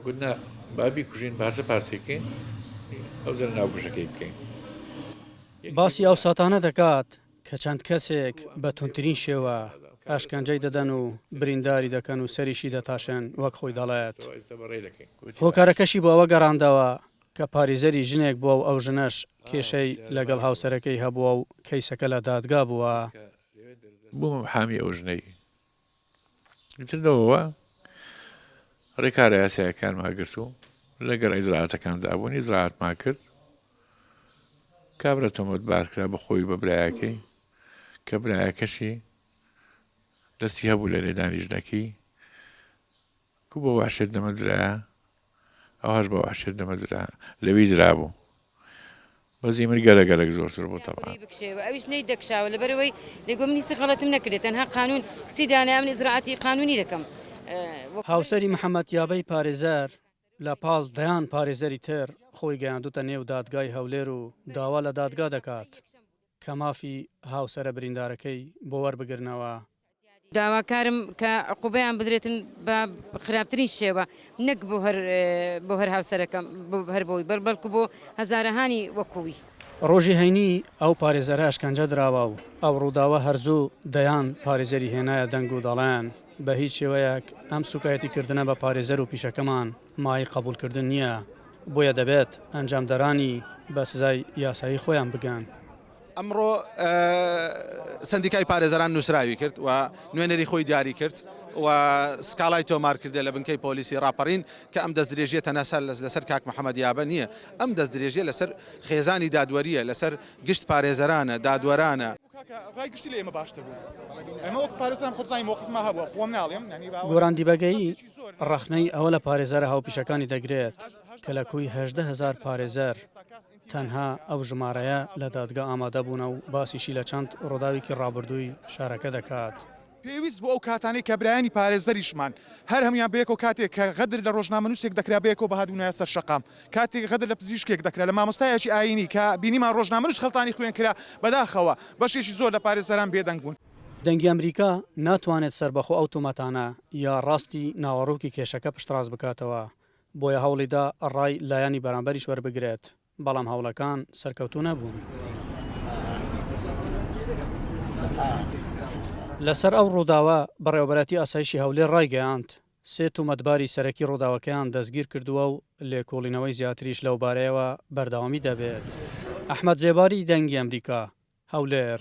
گوت نا با بیکوژین پارچە پارچەی بکەین ئەو جارە ناوکوژەکەی بکەین. باسی ئەو ساتانە دەکات کە چەند کەسێک بە توندترین شێوە ئەشکەنجەی دەدەن و برینداری دەکەن و سەریشی دەتاشن وەک خۆی دەڵێت هۆکارەکەشی بۆ ئەوە گەڕاندەوە کە پاریزەری ژنێک بووە و ئەو ژنەش کێشەی لەگەڵ هاوسەرەکەی هەبووە و کەیسەکە لە دادگا بووە. بووم حامی ئەو ژنەی ئیتر لەوەوە ڕێکارە یاسایەکانمان گرت و لەگەڵ ئیزراعاتەکاندا بوون ئیزراعاتمان کرد کابرا تۆمەت بارکرا بە خۆی بە برایەکەی کە برایەکەشی دەستی هەبوو لە لێدانی ژنەکەی کو بە وەحشێت نەمە درایە ئەوهاش بە وەحشێت نەمە درا لەوی درابوو بەس ئیمر گەلە گەلەک زۆرتر بوو تەبعا. ی بکشێوە ئەویش نەی دەکشاوە لەبەرەوەی دەی گۆم هیچ غەڵەتم نەکردێ تەنها قانوون چی دانایە من ئیجرائاتی قانوونی دەکەم وە هاوسەری محەمەد یابەی پارێزەر لە پاڵ دەیان پارێزەری تر خۆی گەیاندووتە نێو دادگای هەولێر و داوا لە دادگا دەکات کە مافی هاوسەرە بریندارەکەی بۆ وەربگرنەوە. داواکارم کە عقوبەیان بدرێتن بە خراپترین شێوە نەک بۆ هەر بۆ هەر هاوسەرەکەم بۆ هەر بۆی بەر بەلکو بۆ هەزارەهانی وەکو وی. ڕۆژی هەینی ئەو پارێزەرە ئەشکەنجە دراوە و ئەو ڕووداوە هەر زوو دەیان پارێزەری هێنایە دەنگ و دەڵێن بە هیچ شێوەیەک ئەم سووکایەتی کردنە بە پارێزەر و پیشەکەمان مایەی قەبووڵ کردن نییە بۆیە دەبێت ئەنجامدەرانی بە سزای یاسایی خۆیان بگەن. ئەمڕۆ سەندیکای پارێزەران نووسراوی کرد و نوێنەری خۆی دیاری کرد و سکاڵای تۆمار کردێ لە بنکەی پۆلیسی ڕاپەڕین کە ئەم دەستدرێژیە تەنەسەر لەسەر کاک محەممەد یابە نییە ئەم دەستدرێژیە لەسەر خێزانی دادوەریە لەسەر گشت پارێزەرانە دادوەرانە. گۆران دیبەگەیی ڕەخنەی ئەوە لە پارێزەرە هاوپیشەکانی دەگرێت کە لە کوی هەژدە هەزار پارێزەر، تەنها ئەو ژمارەیە لە دادگا ئامادەبوونە و باسیشی لە چەند ڕووداوێکی ڕابردووی شارەکە دەکات. پێویست بوو ئەو کاتانەی کە برایانی پارێزەریشمان هەر هەموویان بەیەکەوە کاتێک کە غەدر لە ڕۆژنامەنووسێک دەکرا بەیەکەوە بهاتبوونایە سەر شەقام، کاتێک غەدر لە پزیشکێک دەکرا، لە مامۆستایەکی ئایینی کە بینیمان ڕۆژنامەنووس خەڵتانی خوێن کرا، بەداخەوە بەشێکی زۆر لە پارێزەران بێدەنگ بوون. دەنگی ئەمریکا ناتوانێت سەربەخۆ ئەو تۆمەتانە یا ڕاستی ناوەڕۆکی کێشەکە پشتڕاست بکاتەوە، بۆیە هەوڵیدا ڕای لایەنی بەرامبەریش وەربگرێت، بەڵام هەوڵەکان سەرکەوتوو نەبوون. لەسەر ئەو ڕووداوە، بەڕێوەبەرایەتی ئاسایشی هەولێر ڕایگەیاند، سێ تۆمەتباری سەرەکی ڕووداوەکەیان دەستگیرکردووە و لێکۆڵینەوەی زیاتریش لەوبارەیەوە بەردەوامی دەبێت. ئەحمەد زێباری، دەنگی ئەمریکا، هەولێر.